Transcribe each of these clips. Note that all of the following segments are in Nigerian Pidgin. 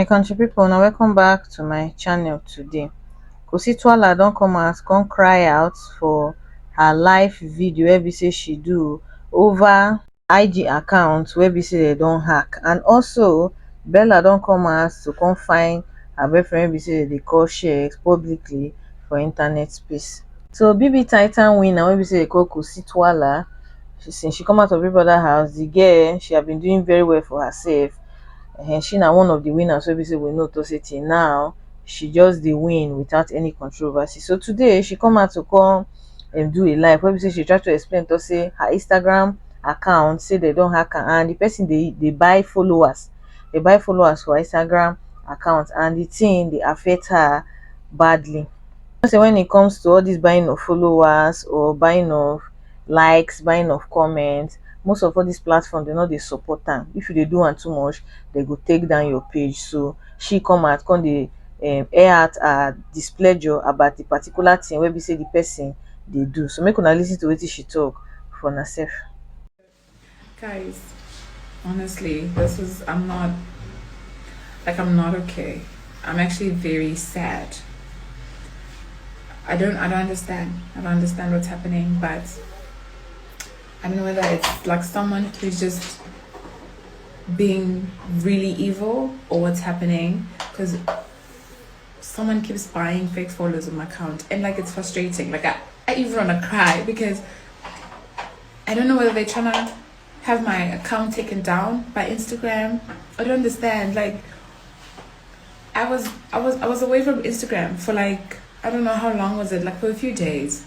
my country people now welcome back to my channel today kositwala don't come as come cry out for her live video wey say she do over ig account wey be say dem don hack and also bella don come house to come find her boyfriend wey be say dem dey call Sheggz publicly for internet space. So BBTitan winner wey be say dem dey call Kositwala since she come out of Big Brother house the girl she have been doing very well for herself um she na one of the winners wey be say we know talk say till now she just dey win without any controversy so today she come out to come dem do a live wey be sey she try to explain talk sey her Instagram account sey dem don hack am and de person dey dey buy followers, dey buy followers for her Instagram account and de thing dey affect her badly. You know sey when it comes to all dis buying of followers or buying of likes, buying of comments, most of all dis platform dey no dey support am. If you dey do am too much, dey go take down your page. So, she come out come dey um air out her displeasure about a particular thing wey be sey di person dey do. So make una lis ten to wetin she talk for una sef. Guys, honestly, this is I'm not like I'm not okay. I'm actually very sad. I don't I don't understand. I don't understand what's happening, but I don't know whether it's like someone who's just being really evil or what's happening because someone keeps buying fake followers on my account and like it's frustrating like I, I even want to cry because I don't know whether they're trying to have my account taken down by Instagram I don't understand like I was I was I was away from Instagram for like I don't know how long was it like for a few days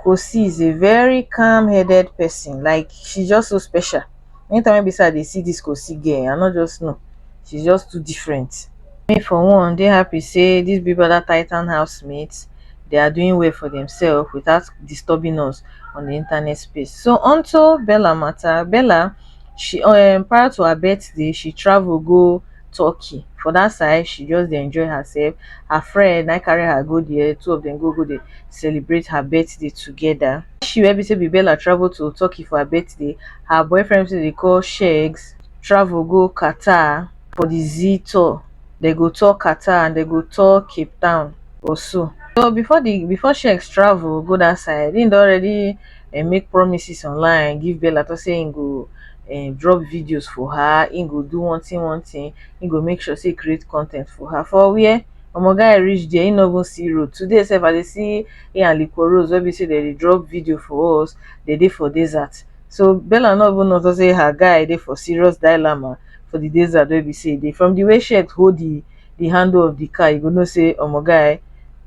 Kosi is a very calm headed person like she just so special anytime wey be say I dey see this Kosi girl I no just know she's just too different. Me for one dey happy say this Big Brother Titan housemates they are doing well for themselves without disturbing us on the internet space so onto Bella matter Bella she um prior to her birthday she travel go turkey for that side she just dey enjoy herself her friend na carry her go there two of them go go dey celebrate her birthday together she wey be say Bella travel to Turkey for her birthday her boyfriend say they call Shegs travel go Qatar for the Z tour they go tour Qatar and they go tour Cape Town also so before the before Shegs travel go that side he don already um make promises online give bella talk say him go um drop videos for her him go do one thing one thing him go make sure say he create con ten t for her for where omo guy reach there him no even see road today sef I dey see him and liquorose wey be say dem dey drop video for us dem dey for desert so bella no even know say her guy dey for serious dilemma for the desert wey be say he dey from the way shey hold the di handle of di car you go know say omo guy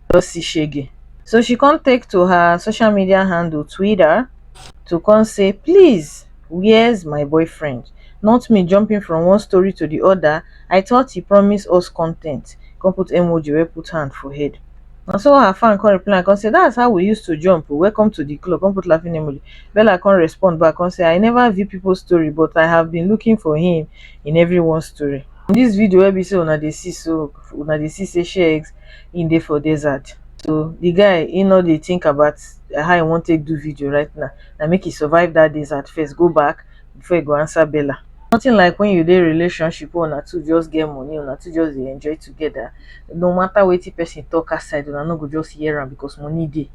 don see shege so she come take to her social media handle twitter to come say please where's my boyfriend not me jumping from one story to di oda i thought he promise us con ten t come put emoji wey put hand for head na so her fan come reply am come say that's how we used to jump o welcome to di club come put laughing emoji bella come respond back come say i never view pipo story but i have been looking for him in everyone story In dis video wey be sey una dey see so, una dey see sey Sheikh im dey for desert so di guy im nor dey think about how e wan take do video right now, na make e survive dat desert first go back before e go answer bella. Nothing like wen you dey relationship wey una two just get money, una two just dey enjoy together, no matter wetin person talk outside una nor go just hear am because money dey.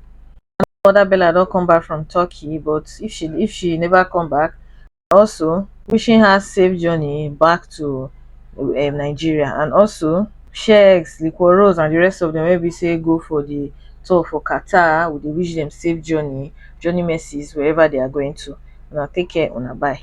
Another bella don come back from Turkey but if she if she never come back also wishing her safe journey back to um nigeria and also sheikh liquorose and di rest of dem wey be say go for di tour for qatar we dey wish dem safe journey journey mercies wherever they are going to una take care una bye